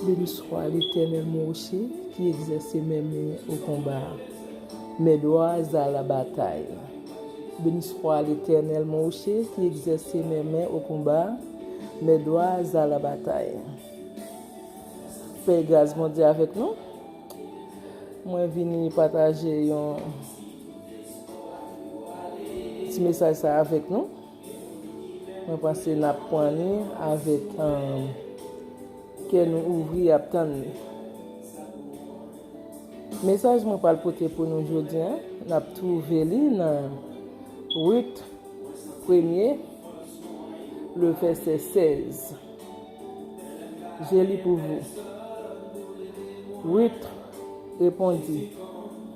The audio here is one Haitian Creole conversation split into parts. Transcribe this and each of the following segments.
Beniswa Letènèl Mwoche ki egzèse men mwen o konba, men dwa za la batay Beniswa Letènèl Mwoche ki egzèse men mwen o konba, men dwa za la batay Pè e gras Bondye avèk nou Mwen vini pataje yon. Ti mesaj sa avèk nou. Mwen panse nap pran li avèk kè nou ouvri ap tann li. Mesaj mwen pral pote pou nou jodi an, nap twouve li nan Rit premye le vèsè 16. Je li pou vou. Rit repondit.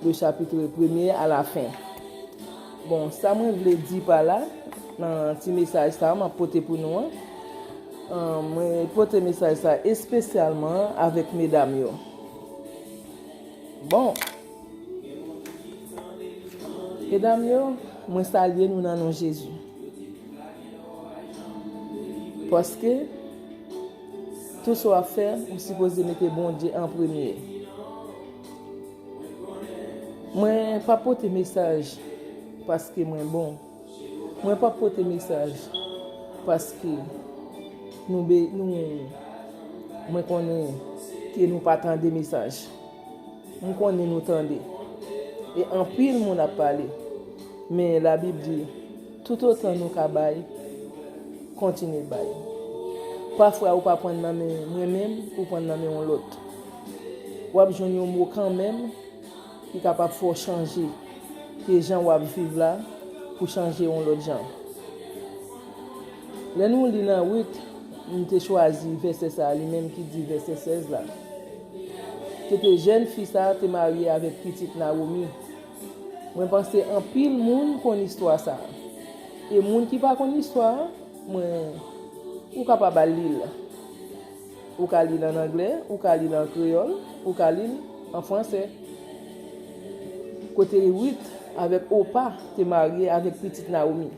De chapitre premye a la fen. Bon, sa mwen vle di pa la, nan ti mesaj sa a m ap pote pou nou an, mwen pote mesaj sa a espesyalman avèk medam yo. Bon, medam yo, mwen salye nou nan non Jezi. Paske, tou sa w ap fè, ou sipoze mete Bondye an premye. Mwen pa pote mesaj paske mwen bon. Mwen pa pote mesaj paske nou be nou mwen konnen ke nou pa tande mesaj. M konnen nou tande. E anpil moun ap pale. Men labib di. Tout otan nou ka bay, kontinye bay. Pafwa ou pa pwan nan men mwen menm ou pwan nan men yon lòt. Wap jwenn yon mo kanmenm ki kapab fè w chanje ke jan wap viv la pou chanje yon lòt jan. Lè nou li nan Rut, m te chwazi vèsè sa a li menm ki di vèsè 16 la. Se te jèn fi sa a te marye avèk pitit Nawomi. Mwen panse anpil moun konn istwa sa. E moun ki pa konn istwa a, mwen ou kapab al li l. Ou ka li l an angle, ou ka li l an kreyòl, ou ka li l an franse. Kote Ruth avèk Opa te marye avèk pitit Nawomi.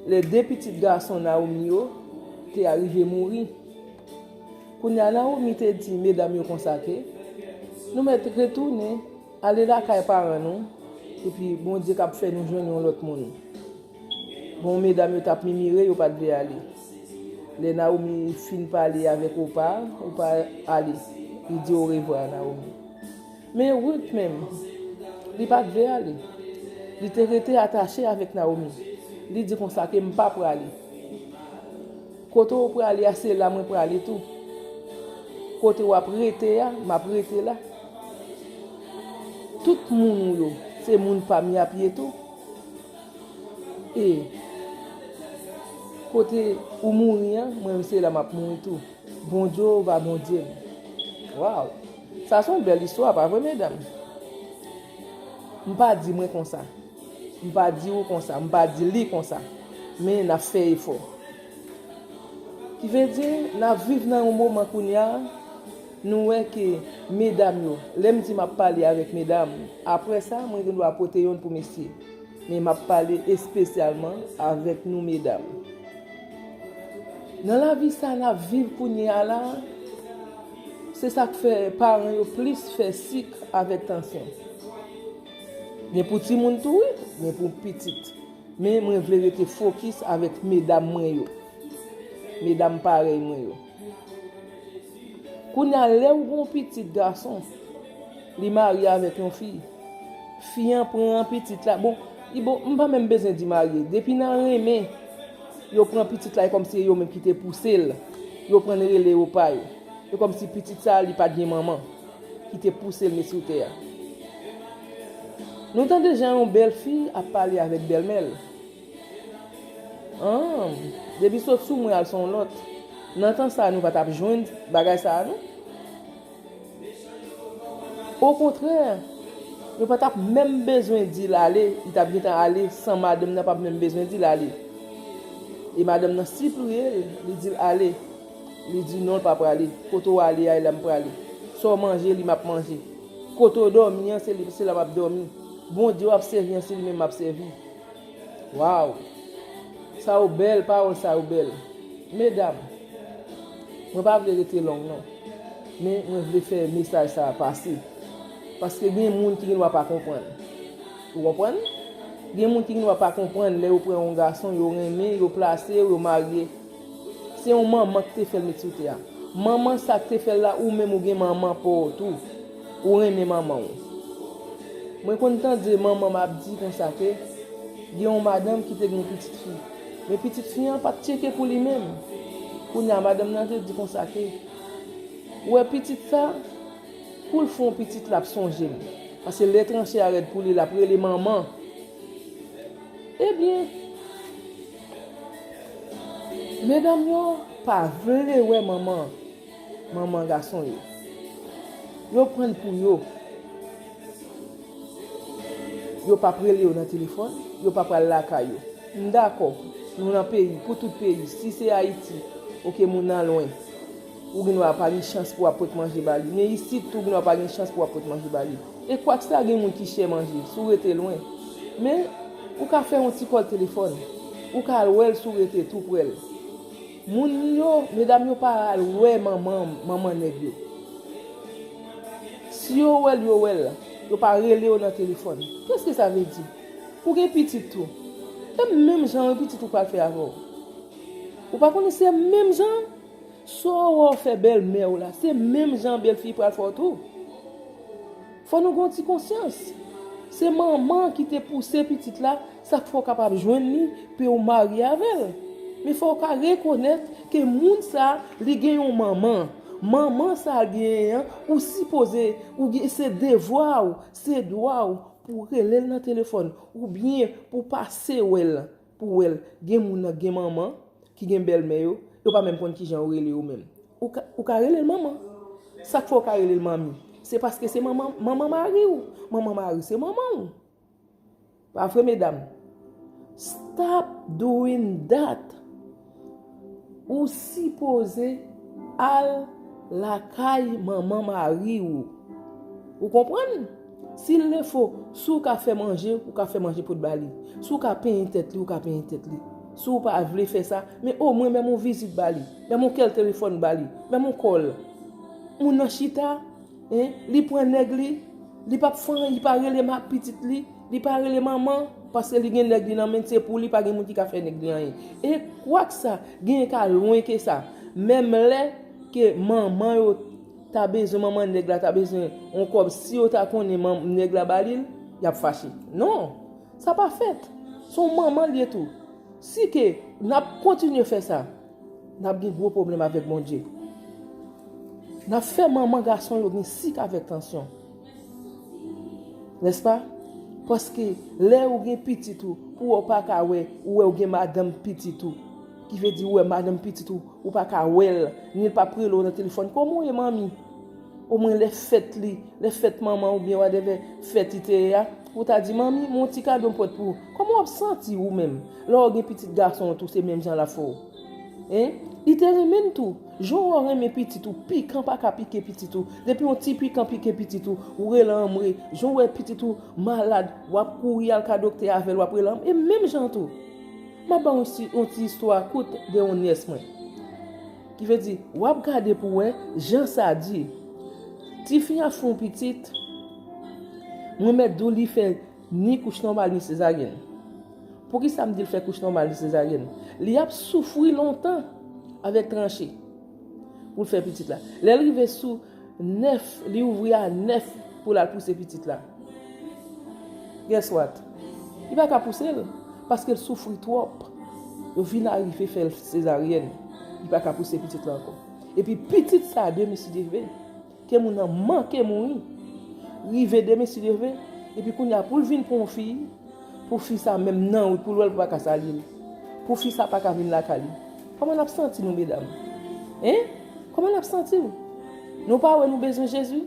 Lè de pitit gason Nawomi yo te arive mouri. Kounye a Nawomi te di medam yo konsa ke, Nou mèt retounen. Ale lakay paran nou epi Bondye kab fè nou jwenn yon lòt moun. Bon medam yo tap mimire yo pat vle ale. Lè Naomi fin pale avèk Opa, Opa ale. Li di orevwa a Naomi. Men Ruth menm, li pat vle ale. Li te rete atache avèk Naomi. Li di konsa ke m pa prale. Kote ou prale a se la mwen prale tou. Kote wap rete a, map rete la. Tout moun ou yo se moun pam yap ye tou e kote ou mouri an mwen m se la map mouri tou bon Jehovah Bondye m waw sa son bèl istwa pa vre medanm m pa di mwen konsa m pa di ou konsa m pa di li konsa men nap fè efò ki vle di nap viv nan yon moman kounya. Nou wè ke medam yo, lè m di m ap pale avèk medam, apre sa, mwen gen dwa pote yonn pou mesye. Men m ap pale espesyalman avèk nou medam. Nan lavi sa n ap viv kounye a la a, se sa k fè paran yo plis fè sik avèk tansyon. Gen pou timoun tou wi, gen pou pitit. Men mwen vle rete fokis avèk medam mwen yo, medam parèy mwen yo. Kounya lew gen yon pitit gason li marye avèk yon fi fi an pran pitit la bon m pa menm bezwen di marye depi nan renmen yo pran pitit la e kòmsi se yo menm ki te pousel yo prann rele yo pa yo e kòmsi pitit sa li pat gen manman ki te pousel met sou tè a nou tande jan yon bèl fi ap pale avèk bèlmèl. Humm depi sot sou mwen al son lòt nan tan sa nou pa tap jwenn bagay sa nou okontrè nou pa tap menm bezwen dil ale li tap gentan ale san madanm nan pap menm bezwen dil ale e madanm nan sipliyel li dil ale li di non li pa prale kote ou ale a e la m prale sa w manje li map manje kote w dòmi an se la map dòmi Bondye wap sèvi an se li menm map sèvi. Waw sa yo bèl pawòl sa yo bèl medam mwen pa vle rete long non men mwen vle fè mesaj sa pase paske gen moun ki gen dwa pa konprann ou konprann gen moun ki gen dwa pa konprann lè yo pran yon gason yo renmen yo plase yo yo marye Se yon manman ki te fèl met sou tè a. Manman sa ki te fèl la ou menm ou gen manman paw tou. Ou renmen manmanw. Mwen konn tande manmanm ap di konsa ke gen yon madanm ki te gen yon pitit fi. Men pitit fi an pat tcheke pou li menm. Kounya madanm nan te di konsa ke ou wè pitit sa poul fon pitit lap sonjem. Pase lè tranche a rèd pou li lap rele manman. Ebyen. Medanm yo pa vle wè manman manman gason yo. Yo pranl pou yo. Yo pap rele yo nan telefòn, yo pap al lakay yo. M dakò, nou nan peyi, pou tout peyi. Si se Ayiti, ok moun nan lwen. Ou gen dwa pa gen chans pou wap pot manje ba li. Men isit tou ou gen dwa pa gen chans pou wap pot manje ba li. E kwak sa gen moun ki chè manje, si w rete lwen. Men, ou ka fè yon ti kòl telefòn. Ou ka al wè l si w rete tou prè l. Moun yo, medam yo pa al wè manman, manman nèg yo. Si yo wè l, yo wè l. Yo pa rele yo nan telefòn. Kèske sa vle di? Ou gen pitit tou. E menm jan an, pitit ou pral fè avè w. Ou pa konnen se menm jan an? Saw wè w fè bèlmè w la se menm jan belfi pral fè w tou Fò nou gen yon ti konsyans Se manman ki te pouse pitit la sak fè w kapab jwenn li pouw marye avè l Men fò w ka rekonèt ke moun sa li gen yon manman Manman sa l genyen an ou sipoze ou gen se devwa w se dwa w pouw rele l nan telefòn oubyen pouw pase wè l Pou wèl gen moun nan gen manman ki gen bèlmè yo, yo pa menm konn kijan yo rele yo menm. Ou ka relel manman. Sak fè ou ka relel manmi? Se paske se manman manman mari ou. Manman mari se manman ou. Pa vre medam? Stop doing that. Ou sipoze al lakay manman mari ou. Ou konprann? Sil defo, si ou ka fè manje, ou ka fè manje pou ba li. Si ou ka penyen tèt li, ou ka penyen tèt li. Si ou pa vle fè sa, men o mwen menm on vizit ba li. Menm on kel telefòn ba li. Menm on kòl. Moun nan chita. Hein li pran nèg li li pap fren li pa rele ma pitit li li pa rele manman paske li gen nèg li nan menn se pou li pa gen moun ki ka fè nèg li anyen e kwak sa genyen ka lwen ke sa menm lè ke manman yo ta bezwen manman nèg la ta bezwen yon kòb si yo ta konnen manm nèg la ba li l yap fache non sa pa fèt son manman l ye tou si ke nap kontinye fè sa. Nap gen gwo pwoblèm avèk Bondye. Nap fè manman gason yo gen sik avèk tansyon. Nèspa? Paske lè ou gen pitit ou, pou wè ou pa ka wè, ou wè ou gen madanm pitit ou. Ki vle di ou wè madanm pitit ou, ou pa ka wè l, ni l pap rele ou nan telefòn, kòman ou ye manmi? Omwen lè fèt li, lè fèt manman oubyen whatever fèt li te ye a, Ou ta di manmi, m'en yon ti kado m'pwèt pou ou. Kòman w'ap santi ou menm, lè w'ap gen pitit gason an tou se menm jan l'ap fè ou? Hein? Li te renmen'n tou. Jan w'ap renmen pitit ou, pikan pa ka pike pitit ou. Depi yon ti pikan pike pitit ou, ou rele anmwe. Jan ou wè pitit ou malad, w'ap kouri al ka doktè avè'l w'ap rele anmwe. E menm jan tou, m'ap ba ou yon ti istwa kout de yon nyès mwen. Ki vle di, w ap gade pou w wè jan sa di. Tifi an ap fè yon pitit, mwen mèt di w li fè ni kouch nòmal ni sezaryèn. Poukisa m di l fè kouch nòmal ni sezaryèn? Li ap soufri lontan avèk tranche pou l fè pitit la. Lè l rive sou 9 li ouvri a 9 pou lal pouse pitit la guess what li paka pousel paskel soufri trop yo vin arive fèl sezaryèn li paka pouse pitit la ankò epi pitit sa demesideve ke moun nan manke mouri rive demesideve epi kounya poul vin pran yon fi Pou fi sa menm nan wi poul wèl paka salil pou fi sa paka vin lakay li kòman nap santi nou medam hein kòman nap santi nou nou pa wè nou bezwen jezi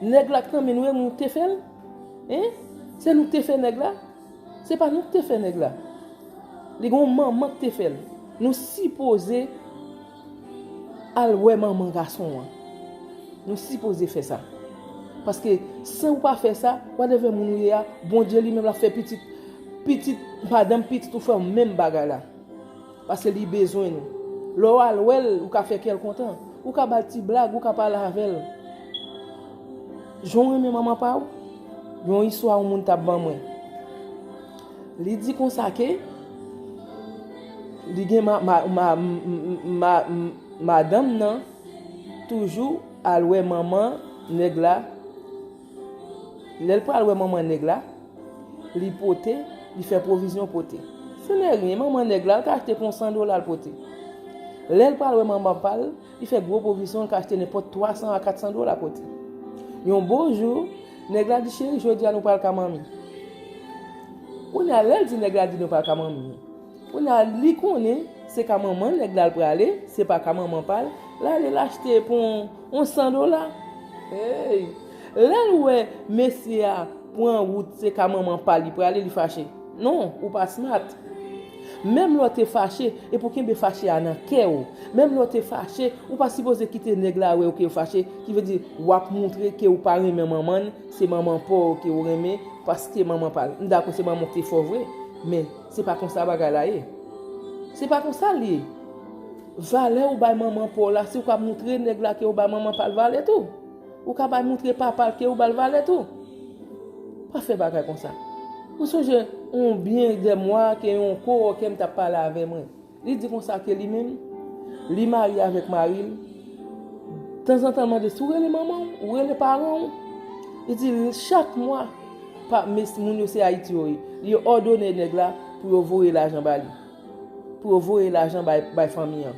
nèg la kntan men nou e nou te fèl hein se nou te fè nèg la se pa nou ki te fè nèg la li gon manman ki te fèl nou sipoze Al wè manman gason an. Nou sipoze fè sa. Paske si ou pa fè sa, whatever moun ou ye a, Bondye li menm l ap fè pitit, pitit madanm pitit ou fè w menm bagay la. Paske li bezwen nou. Lè w al wè l, ou ka fè kè l kontan. Ou ka ba l ti blag, ou ka pale avè l. Jan w renmen manman pa ou? Yon istwa yon moun t ap ban mwen. Li di konsa ke li gen madanm nan toujou al wè manman nèg la, lè l pral wè manman nèg la, li pote, li fè pwovizyon pote. Senèryen, manman nèg la, l ka achte pou yon san dola l pote. Lè l pral wè manman pa l. Li fè gwo pwovizyon l ka achte nenpòt 300 a 400 dola pote. Yon bon jou, nèg la di cheri jodi a nou pral ka manmi. Kounye a lè l di nèg la di nou pral ka manmi. Kounye a li konnen se ka manman nèg la l prale, se pa ka manman pa l, l ale l achte pou yon 100 dola. Hey! Lè l wè mesye a pran wout se ka manman pa li prale li fache. Non, ou pa smart. Menm lè w te fache, e pou kenbe fache a nan kè w. Menm lè w te fache, ou pa sipoze kite nèg la wè w ke w fache, ki vle di, w ap moutre ke w pa renmen manman l, se manman pa w ke w renmen, paske manman pa l. M dakò se manman w te fè w vre, men, se pa konsa bagay la ye. Se pa konsa l ye. Valè ou bay manman pa w la, se ou k ap moutre nèg la ke ou bay manman pa l valè tou. Ou ka bay moutre papa l ke ou ba l valè tou. Pa fè bagay konsa. Mwen sonje yon byen dè mwa ke yon kowòkè m t ap pale avè mwen. Li di konsa ke li menm, li marye avèk mari l. Tanzantan l mande, si w rele manman w, ou rele paran w? Li di, chak mwa, pa, mes, moun yo se Ayiti yo ye. Li òdone nèg la pou yo voye lajan ba li. Pou yo voye lajan bay fanmi an.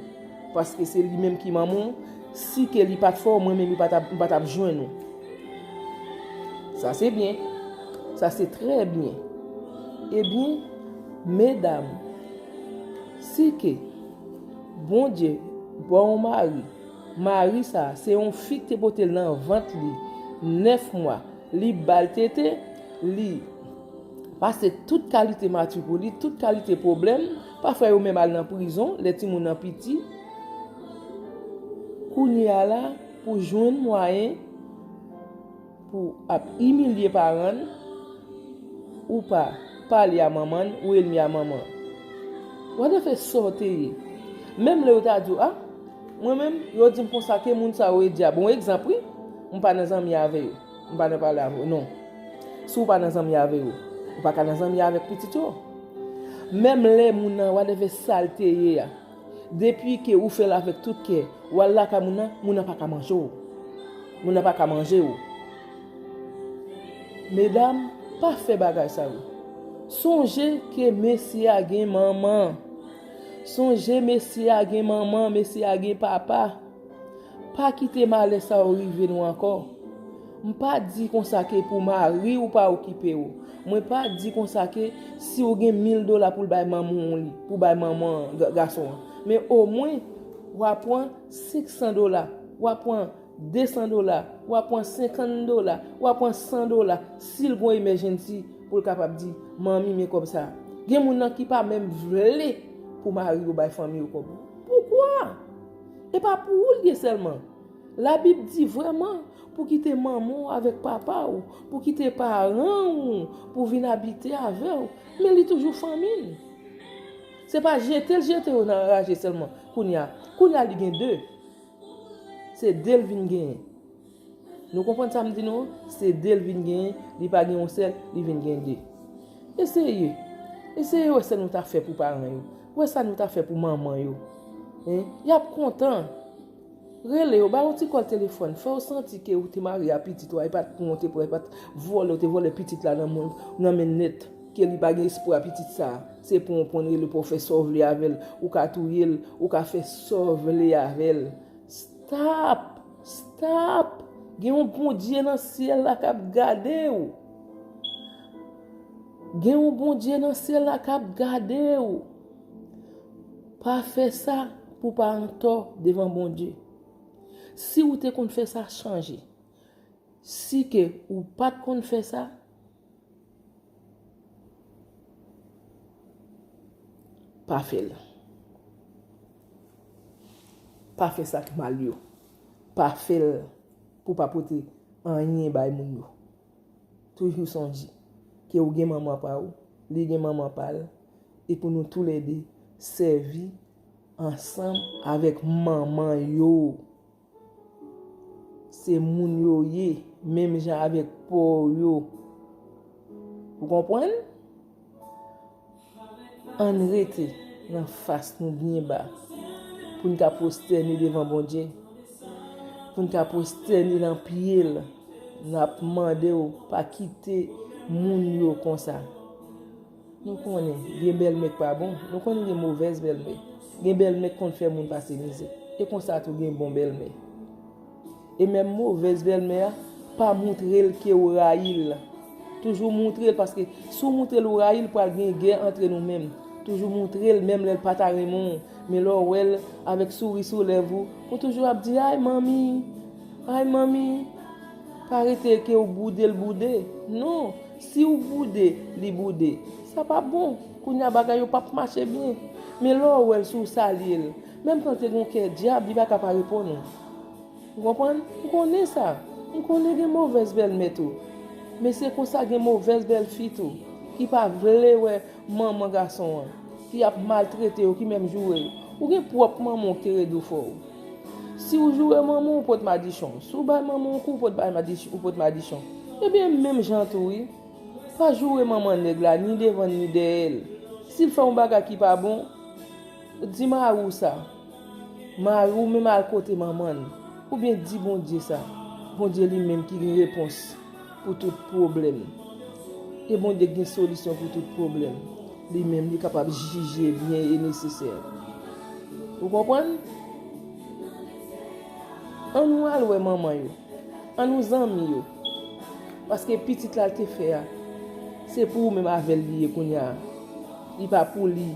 Paske se li menm ki manman w. Si ke li pat fè w, mwen menm yo pa tap jwenn ou. Sa se byen. Sa se trè byen. Ebyen, medam, si ke Bondye ba w yon mari, mari sa a, se yon fi ki te pote l nan vant li 9 mwa, li ba l tete, li. Pase tout kalite mati pou li, tout kalite pwoblèm, pafwa yo menm al nan prizon, lè ti moun nan piti. Kounye a la, pou jwenn mwayen, pou ap imilye paran, ou pa pale a manman, ou elmi a manman. Wè de fè sa w te ye. Menm lè yo ta di w, a, mwen menm, yo di m konsa ke moun sa yo e dyab. Bon, ekzanp wi, mwen pa nan zanmi avè yo. M pa nan pale avè w non. Si w pa nan zanmi avè yo, ou pa ka nan zanmi avèk pitit yo. Menm lè moun nan whatever sa l te ye a, depi ke ou fè l avèk tout kè, w al lakay moun nan, moun nan pa ka manje w. Moun nan pa ka manje w. Medam, pa fè bagay sa yo. Sonje ke mesye a gen manman. Sonje mesye a gen manman, mesye a gen papa. Pa kite malè sa yo rive nou ankò. M pa di konsa ke pou mari ou pa okipe ou. Mwen pa di konsa ke si ou gen mil dola pou l bay manman ou li, pou bay manman gason an. Men o mwen, w a pran senk san dola, w a pran de san dola, w a pran senkann dola, w a pran san dola, si l gon emèjennsi pou l kapab di, manmi men kòb sa. Gen moun nan ki pa menm vle pou mari ou bay fanmi ou kòb. Poukwa? E pa pou ou l ye sèlman. Labib di vrèman pou kite manman w avèk papa w, pou kite paran ou pou vin abite avè w, men li toujou fanmi n. Se pa jete l jete yo nan anraje sèlman kounye a. Kounye a li gen de. Se de l vin genyen. Nou konprann sa m di nou an? Se de l vin genyen, li pa gen yon sèl, li vin gen de. Eseye, eseye wè sa nou ta fè pou paran yo. Wè sa nou ta fè pou manman yo. Y ap kontan. Rele yo, ba yo ti kòl telefòn, fè yo santi ke ou te mare a pitit ou a, e pa t pou wont, e pa t pou vòlè, ou te vòlè pitit la nan men l nèt, ke li pa gen espwa pitit sa a. Se pran w pran l, rele pou w fè sa w vle avè l. Ou ka touye l, ou ka fè sa w vle avè l. Stop! Stop! Gen yon Bondye nan syèl la kap gade ou. Gen yon Bondye nan syèl la kap gade ou. Pa fè sa pou pa antò devan Bondye. Si ou te konn fè sa chanje. Si ke ou pat konn fè sa. Pa fè l. Pa fè sa k mal yo. Pa fè l pou w pa pote anyen bay moun yo. Toujou sonje ke ou gen manman pa ou, li gen manman pa l, e pou nou tou le de sèvi ansanm avèk manman yo. Se moun yo ye, menm jan avèk po yo. Ou konprann? An n rete nan fas nou byen ba pou n ka pwostène devan Bondye, pou n ka pwostène nan pye l, n ap mande ou pa kite moun yo konsa. Nou konnen gen bèlmè k pa bon, nou konnen gen movèz bèlmè. Gen bèlmè k konn fè moun pase mizè. E konsa tou gen bon bèlmè. E menm movèz bèlmè a, pa moutre l ke ou rayi l. Toujou moutre l paske si w moutre l ou rayi l pral gen gè antre nou menm. Toujou moutre l menm lè l pa ta renmen w. Men lè w wè l avèk souri sou lèv ou, ou toujou ap di, Ay manmi! Ay manmi pa rete ke ou boude l boude non si ou boude li boude sa pa bon kounye a bagay yo pap mache byen men lè ou wè l si ou salye l menm ke l te gen yon kè dyab li pa ka pa reponn ou ou konprann m konnen sa m konnen gen movèz bèlmè tou men se konsa gen movèz bèlfi tou ki pa vle wè Manman gason an ki ap maltrete yo ki menm joure yo. Ou gen pwòp manman w ki redi w fò ou. Si w joure manman w ou pot madichon. Si w bay manman w kou ou pot bay madichon ou pot madichon. Ebyen menm jan tou wi. Pa joure manman nèg la ni devan ni dèyè l. Si l fè yon bagay ki pa bon, di mari w sa. Mari w menm al kote manman l. Oubyen di Bondye sa. Bondye li menm ki gen repons. pou tout pwoblèm. E Bondye gen solisyon pou tout pwoblèm. Li menm li kapab jije byen e nesesè. Ou konprann? An nou al wè manman yo. An nou zanmi yo. Paske pitit la te fè a. Se pou ou menm avèl li ye kounya. Li pa pou li.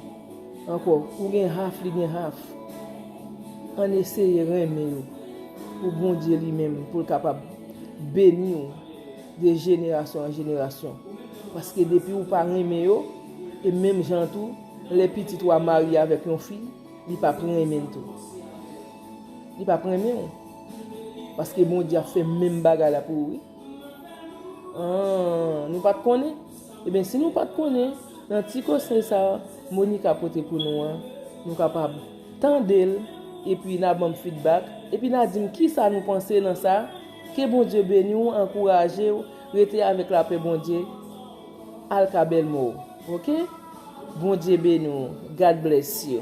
Ankò ou gen half li gen half ann eseye renmen yo pou Bondye li menm poul kapab beniw de jenerasyon an jenerasyon paske depi ou pa renmen yo e menm jan an tou lè pitit ou a marye avèk yon fi li pap renmenl tou li pap renmenw paske Bondye ap fè menm bagay la pou ou wi. Ahh nou pat konnen? Eben si nou pat konnen, nan ti konsèy sa Monica pote pou nou an, nou kapab tande l epi na banm fidbak, epi na dim kisa nou panse nan sa, ke Bondye beni w, ankouraje w, rete avèk lapè Bondye, al ka bèlmè w, ok? Bondye beni w, God bless you.